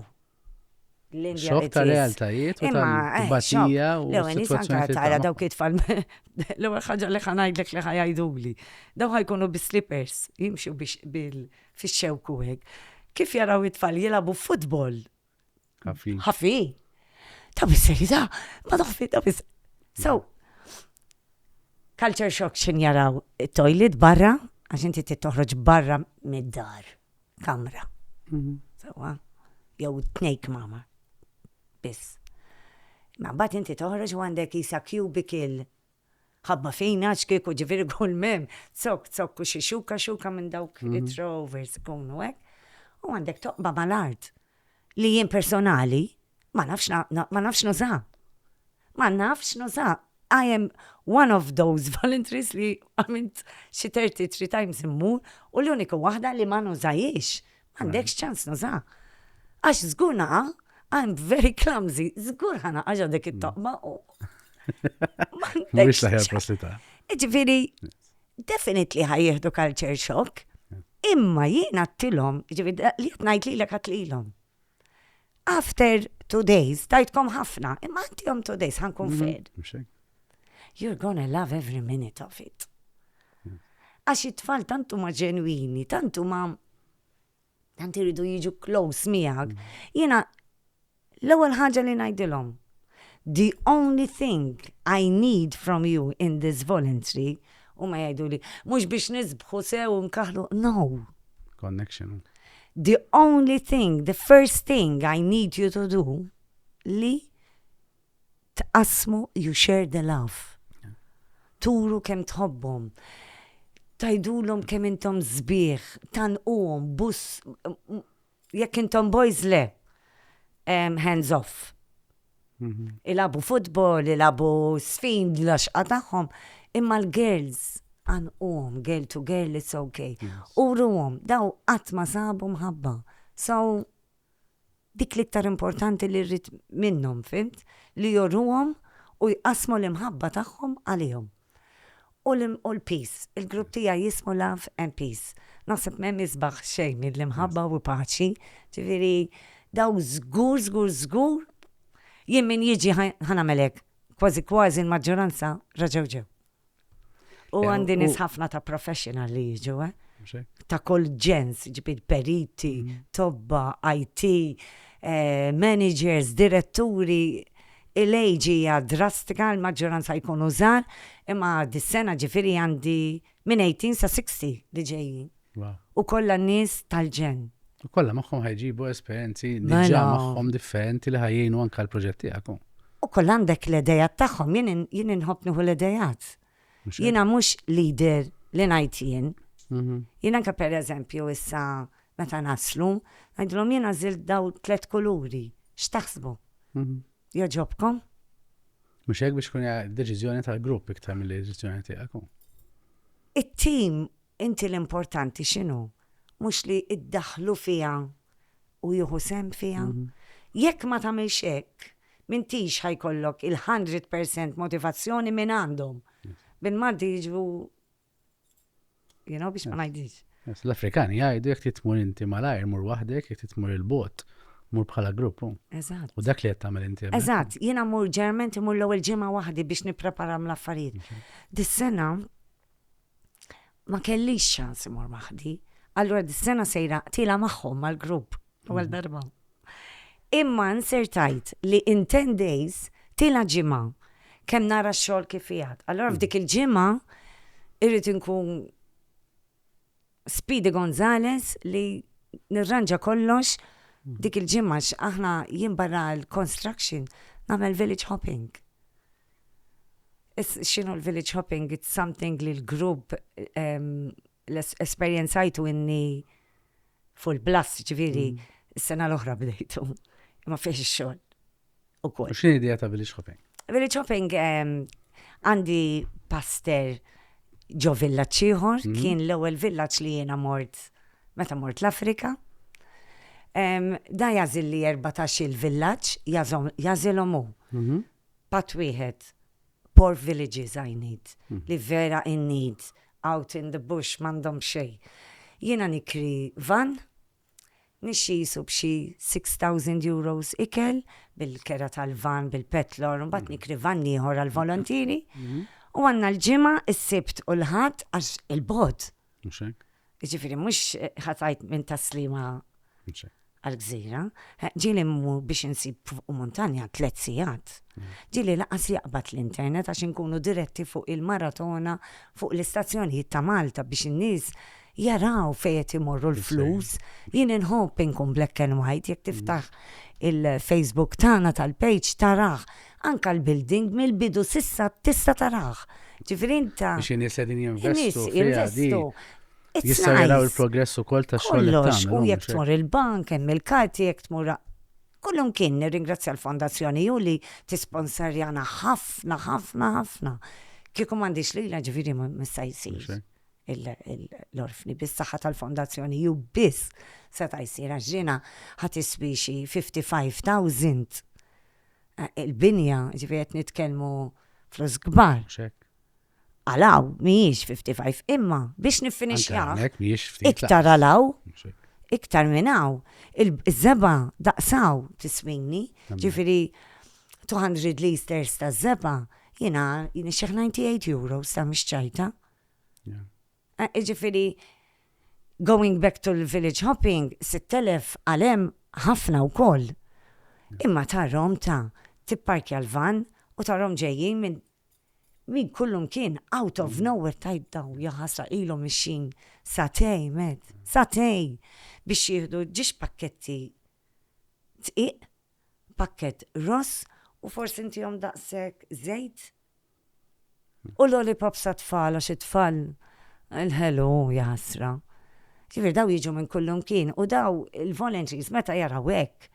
L-Indja. Xokk ta' realtajiet u ta' batija u. Lew, nisanka tara dawk it-tfal. L-ewwel ħaġa li ħanajdlek li ħajajduli. Daw ħajkunu bi slippers, jimxu biex bil. fix-xewk u hekk. Kif jaraw it-tfal jilagħbu futbol? Ħafi. Ħafi. Ta' bis-serjetà, ma taħfi ta' bis. So, culture shock xin jaraw it-toilet barra, għax inti tittoħroġ barra mid-dar, kamra. Mhm. Sawa, jew tnejk mama. Biss. Ma bat inti toħroġ għandek jisa cubicle Ħabba fina għax kieku ġifieri kull m'hemm zokk zokk u xi xuka xuka minn dawk it-throwovers ikunu hekk. U għandek toqba mal-art li jien personali ma nafx ma nafx nuża. Ma nafx nuża. I am one of those voluntaries li għamilt xi 33 times immur u l-unika waħda li ma nużajhiex Għandekx ċans naża. Għax żgur naqa, I'm very clumsy, żgur ħana għaġa dik it-toqba u. Mhux laħjar possita. Ġifieri, definitely ħajjieħdu culture shock, imma jiena t-tilom, ġifieri li qed ngħid lilek għatlilhom. After two days, tajtkom ħafna, imma għandihom two days, ħankun mm-hmm. fed. Mhux hekk? You're gonna love every minute of it. Għax it-tfal tantu ma ġenwini, tantu ma tant iridu jiġu close miegħek. Mm. Jiena l-ewwel ħaġa li ngħidilhom, The only thing I need from you in this voluntary, huma jgħiduli, mhux biex nisbħu sew u nkaħħlu, no! Connection. The only thing, the first thing I need you to do li tqassmu, you share the love. Turu kemm tħobbhom. Tajdulhom kemm intom sbieħ, tanquhom, bus, Jekk intom boys le, hands off. Mhm. Ilabu futbol, ilabu sfin, laxqa tagħhom, imma l-girls għan uħom, girl to girl, it's okay. U ruhom, daw qatt ma sabu mħabba. So, dik li ktar importanti li rrit minnhom, fimt? Li jorruhom u jqasmu l-imħabba tagħhom għalihom. U l-piż, il-grupp tiegħi jismu Love and Peace. Naħseb m'hemm isbaħ xejn mill-imħabba u l-paċi. Ġifieri dawk żgur, żgur, żgur jien min jiġi ħa nagħmel hekk. Kważi kważi l-maġġoranza raġgħu ġew. U għandi nies ħafna ta' professional li jiġu, eh? Ta' kull ġens, ġifieri periti, tobba, IT, eh, managers, diretturi, Il-age hija drastika, il-maġġoranza jkunu żgħar, imma dis-sena ġifieri għandi minn 18 sa 60 li ġejjin. U kollha nies tal-ġenn. U kollha magħhom ħa jġibu esperjenzi diġà magħhom differenti li ħa jgħinu anke l-proġett tiegħek. U kollha għandek l-idejat tagħhom, jien inħobb nieħu l-idejat. Jiena mhux leader li ngħid jien. Jiena anke pereżempju issa meta naslu, ngħidilhom jien għażilt daw tliet kuluri, x'taħsbu? Jogħġobkom? Mhux hekk biex tkun deċiżjoni tal-grupp iktar mill deċiżjoni tiegħek. It-tim inti l-importanti x'inhu? Mhux li iddaħlu fiha u jieħu sem fiha. Jekk ma tagħmilx hekk, M'intix ħa jkollok il-hundred percent motivazzjoni minn għandhom. Bil-Malti jiġbu you know biex ma ngħidix. L-Afrikani jgħidu jekk titmur inti malajr mur waħdek, jekk titmur il-bot, mur bħala grupp. Eżatt. U dak li qed tagħmel inti. Eżatt, jiena mur ġerment imur l-ewwel ġimgħa waħdi biex nippreparam l-affarijiet. Dis-sena ma kellix ċans imur maħdi. Allura dis-sena sejra tila magħhom mal-grupp għal darba. Imma nsertajt li in 10 days tila ġimgħa kemm nara x-xogħol kif jgħad. Allura f'dik il-ġimgħa irrid inkun Speedy Gonzalez li nirranġa kollox mm. dik il-ġimgħa aħna jien barra l-construction nagħmel village hopping. X'inhu l-village hopping? It's something li l-grupp ehm, l-esperjenzajtu inni full blast ġviri mm. s-sena l-oħra bdejtu. Ma fiex xogħol. ukoll. X'inhi idea ta' village hopping? Village hopping ehm, għandi paster ġo villaġġ ieħor, mhm. kien l-ewwel villaġġ li jiena mort meta mort l-Afrika. Ehm, da jażil li 14 il-villaġġ jażilhom hu. Mhm. Pat wieħed poor villages I need, mhm. li vera in need, out in the bush, mandom xej. Jiena nikri van, Nixxisu b'xi six thousand euros ikel, bil-kera tal-vann, bil-petlor, imbagħad nikri vann ieħor għall-volontieri. U għandna l-Ġimgħa, is-Sibt u l-Ħadd għax il-bogħod. Mhux hekk? Jiġifieri mhux ħa tgħid minn Tas-Sliema għall-Gżira. Ġieli mmur biex insib fuq muntanja tliet sigħat. Ġieli lanqas jaqbad l-internet għax inkunu diretti fuq il-maratona fuq l-istazzjonijiet ta' Malta biex in-nies jaraw fejn qed imorru l-flus. Jien inħobb inkun black and white, jekk tiftaħ il-Facebook tagħna tal-page tarah. Anke l-building mill-bidu s'issa tista' tarah. Ġifieri int. Biex in-nies qegħdin jinvestu fiha di. Jistgħu jaraw il-progress ukoll tax-xogħol li tagħmel. Kollox, u jekk tmur il-bank hemm il-karti jekk tmur. Kullimkien nirringrazzja l-Fondazzjoni Hu li tisponserjana ħafna, ħafna, ħafna. Kieku m'għandix lilha ġifieri mista' jsir. l-orfni bis-saħħa tal-Fondazzjoni hu biss seta' jsir għax dinha ħa tiswi xi fifty five thousand il-binja, jiġifieri qed nitkellmu flus kbar. Mhux hekk. Għal hawn mhijiex fifty five, imma biex niffinixxiha. Hekk mhijiex ftit. Iktar għal hawn. Mhux hekk. Iktar minn hawn. Iż-żeba daqsaw tiswini, jiġifieri 200 litres taż-żeba jiena nixxieħ 98 euros ta' mhix ċajta. Iġifiri, going back to l-village hopping, 6,000 għalem ħafna u koll. Imma tarrom ta' tipparkja l-van u tarrom ġejjin minn min kullum kien out of nowhere tajt daw jaħasra ilhom mixin satej med, satej biex jieħdu ġiex pakketti tqiq, pakket ross u forsi ntihom daqshekk żejt. U lollipops għat-tfal għax it-tfal il-ħelu hu jaħasra. Ġifieri daw jiġu minn kullumkien u daw il-volunteers meta jaraw hekk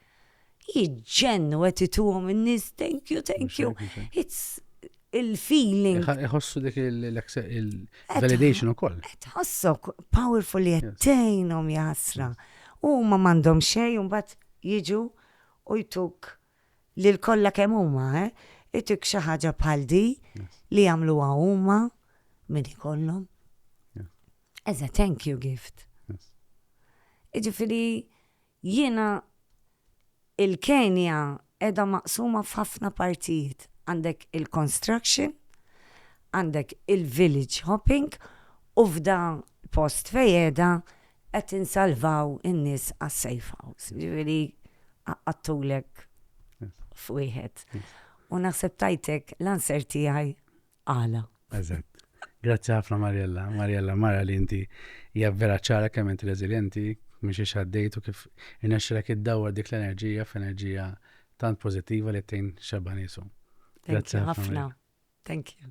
jiġġennu qed ituhom in-nies thank you, thank you. It's il-feeling. Iħossu dik il-validation ukoll. Qed ħossok powerful li qed tgħinhom jaħasra. Huma m'għandhom xejn u mbagħad jiġu u jtuk lil kollha kemm huma, eh, itik xi ħaġa bħal di li jagħmluha huma min ikollhom. As a thank you gift. Iġifieri jiena il-Kenja edha maqsuma f'ħafna partijiet. Għandek il-construction, għandek il-village hopping u f'da post fejeda qed insalvaw in-nies għas-safe house. Ġifieri qattulek f'wieħed. U naħseb tajtek l-anser tiegħi għala. Eżatt. Grazzi ħafna Mariella. Mariella mara li inti hija vera ċara kemm inti reżiljenti, mhix ix għaddejt u kif inexxilek iddawwar dik l-enerġija f'enerġija tant pożittiva li tgħin xebba nisu. Grazzi ħafna. Thank you.